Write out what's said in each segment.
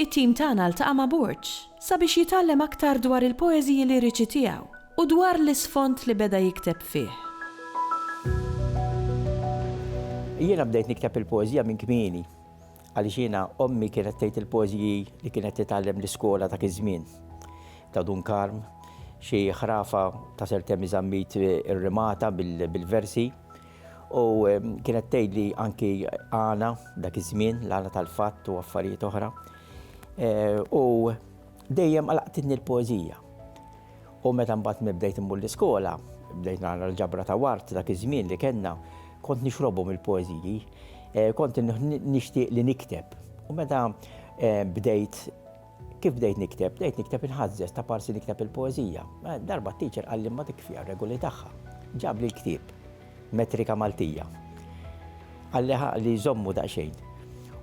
It-tim tagħna ltaqa' ma' Burġ sabiex jitgħallem aktar dwar il-poeżiji liriċi tiegħu u dwar l-isfond li beda jikteb fih. Jiena bdejt nikteb il-poeżija minn kmieni għaliex jiena ommi kienet tgħid il-poeżiji li kienet titgħallem l-iskola dak iż-żmien, ta' Dun Karm, xi ħrafa ta' Sir Temi Zammit irrimata bil-versi. U kienet tgħidli anki għana dak iż-żmien, l-għana tal-fatt u affarijiet oħra. E, u dejjem għalaqtitni l-poezija. U meta mbagħad bdejt immur l-iskola, bdejt nara l-ġabra ta' wart dak iż-żmien li kellna, kont nixrobhom il-poeżiji, eh, kont nixtieq li nikteb. U meta eh, bdejt Kif bdejt nikteb? Bdejt nikteb inħażżeż ta' parsi nikteb il-poeżija. Eh, darba t-teacher qalli ma dik fiha regoli tagħha. Ġabli l-ktieb, metrika Maltija. Qalli li jżommu daqsxejn.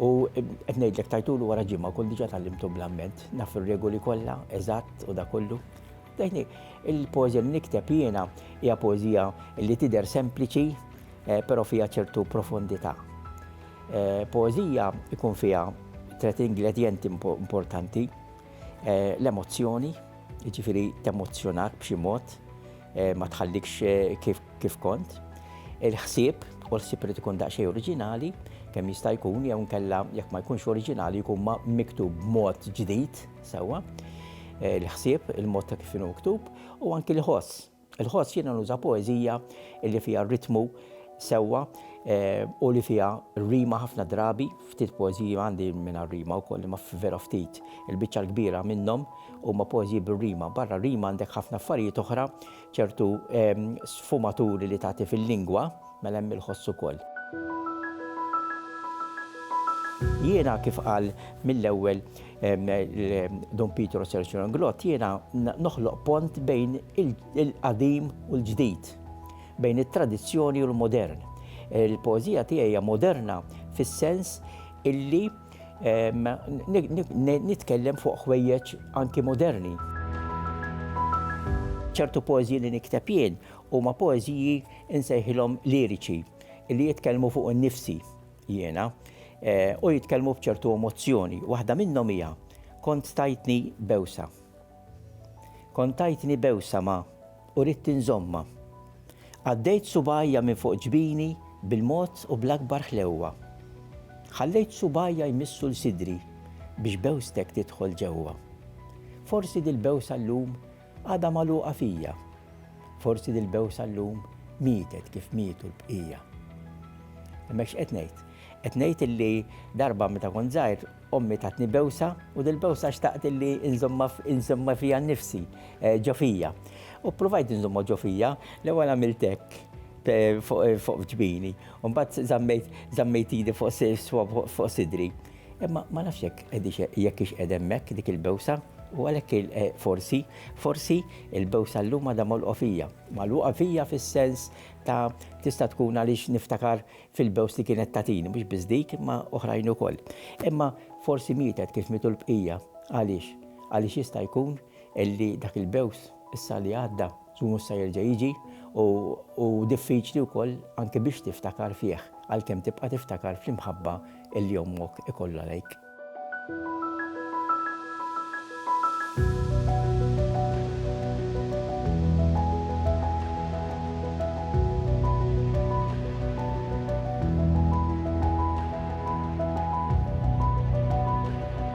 U eh, qed ngħidlek tajtulu wara ġimgħa kull diġà tgħallimtu bl-amment, naf ir-regoli kollha, eżatt u da kollu. Dejni, il-poeżija li nikteb jiena hija poeżija li tidher sempliċi, eh, però fiha ċertu profondità. Poeżija jkun fiha tliet ingredjenti importanti, l-emozzjoni, jiġifieri temozzjonak b'xi mod, ma tħallikx kif kont, il-ħsieb, u l-ħsieb irid ikun daqsxejn oriġinali, kemm jista' jkun, jew inkella jekk ma jkunx oriġinali jkun miktub b'mod ġdid, sewwa, il-ħsieb, il-mod ta' kif inhu miktub, u anki l-ħoss. Inħoss jiena nuża poeżija li fiha r-ritmu sewwa u li fiha r-rima ħafna drabi, ftit poeżiji għandi mingħajr rima wkoll imma vera ftit. Il-biċċa l-kbira minnhom huma poeżiji bir-rima. Barra r-rima għandek ħafna affarijiet oħra, ċertu sfumaturi li tagħti fil-lingwa, Mela hemm il-ħoss ukoll. Jiena kif qal mill-ewwel Dun Pietro Serġju Englot, jiena noħloq pont bejn il-qadim u l-ġdid, bejn it-tradizzjoni u l-modern. Il-poeżija tiegħi hija moderna fis-sens illi nitkellem fuq ħwejjeġ anki moderni. Ċertu poeżiji li nikteb jien Huma poeżiji nsejħilhom liriċi li jitkellmu fuq innifsi jiena u jitkellmu b'ċertu emozzjoni. Waħda minnhom hija kont tajtni bewsa. Kont tajtni bewsa ma u rid tinżomma. Għaddejt subajja minn fuq ġbini bil-mod u bl-akbar ħlewwa. Ħallejt subajja jmissu l-sidri biex bewstek tidħol ġewwa. Forsi dil-bewsa llum Għadha magħluqa fija. Forsi dil-bewsa llum mietet kif mietu l-bqija. Imma x'qed ngħid? Qed ngħid illi darba meta kont żgħir ommi tatni bewsa u dil-bewsa xtaqt illi nżommha fija nnifsi eh, ġo fija. U provajt nżommha ġo fija, l-ewwel għamilt hekk eh, fuq eh, ġbini, u mbagħad żammejt idi fuq sidri. Imma ma nafx jekk qegħdix jekk hix qiegħda hemmhekk dik il-bewsa u għalhekk il- eh, forsi, forsi il-bewsa llum għadha mogħluqa fija. Magħluqa fija fis-sens ta' tista' tkun għaliex niftakar fil-bews li kienet tagħtini, mhux biss dik imma oħrajn ukoll. Imma forsi mietet kif mietu l-bqija. Għaliex? Għaliex jista' jkun illi dak il-bews issa li għadda żgur mhux se jerġa' jiġi u diffiċli wkoll anke biex tiftakar fih għalkemm tibqa' tiftakar fl-imħabba illi ommok ikollha lejk.